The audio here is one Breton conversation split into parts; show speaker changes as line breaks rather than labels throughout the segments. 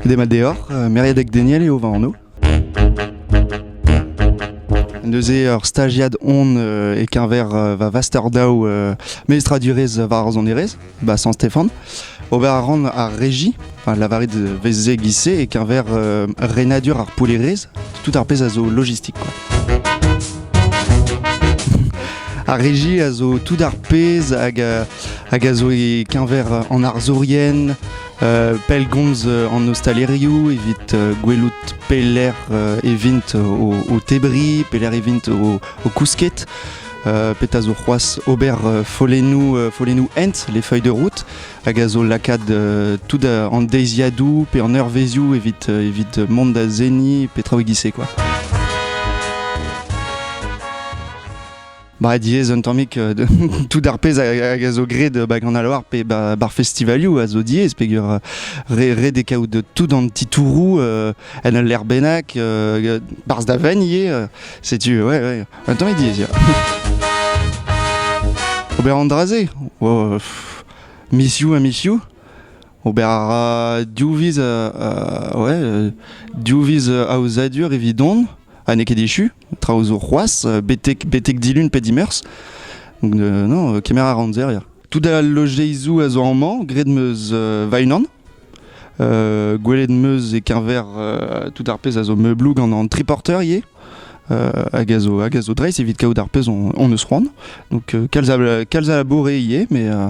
Demat deoc'h, euh, Meredec Daniel eo va anv. Neuze ur stagiad on euh, e-keñver euh, va vaster-daou euh, mestradurezh war an erez, ba San-Stéphane. Ober a ran ar régie, enfin, lavaret veze gise e-keñver euh, renadur ar poulerezh, tout ar pezh a zo logistik quoi. Ar régie a zo tout ar pezh hag, euh, hag a zo e-keñver en arzourien, pellgomz an ostalerioù evit gwelout pelec'h e vint o, tebriñ, pelec'h e vint o, kousket. petra zo c'hoazh ober follennoù, follennoù hent, les feuilles de route, hag a zo lakaat tout an deiziadoù pe an eurvezioù evit, evit mont da seniñ petra oe gise quoi. Bah, diez un tammig euh, de, tout ar pezh hag a zo graet euh, bah, gant al loar pe bah, bar festivalioù a zo diez peger euh, re, re de kaout tout an titouroù en ul lec'h bennak barzh da venn ivez setu ouais, ouais, un tammig diez ya. Ober an dra-se oh, miss you miss you Ober a ra div viz ouais, div viz aozadur evidon ha n'eo ket echu traoù zo c'hoazh, betek, betek dilun pe dimeurzh. Donc, euh, non, euh, kemer a ran ya. Tout al lojeizoù a zo amañ, gred meus euh, va-unan. Euh, gwelet meus e-keñver euh, tout ar pezh a zo meubloù gant an triporter ivez. Euh, hag a zo, hag a zo dreist evit kaout ar pezh on, on eus c'hoant. Donc, euh, kalz, a, kalz a laboure ivez, mais euh,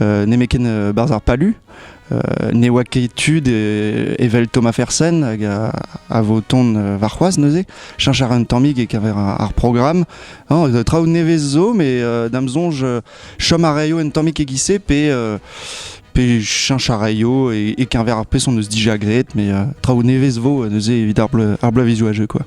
nemetken barzh ar palu. ne oa ket tud evel Thomas Fersen hag a, vo ton warc'hoaz neuze, cheñch ar un tammig e kaver ar, programme. traoù nevez zo, mais dam sonj chom a raio un tammig e-giz-se pe pe cheñch a raio et, et qu'un verre ar pes on eus déjà graet, mais euh, traoù nevez vo neuze evit ar bleu, ar bleu vizual jeu quoi.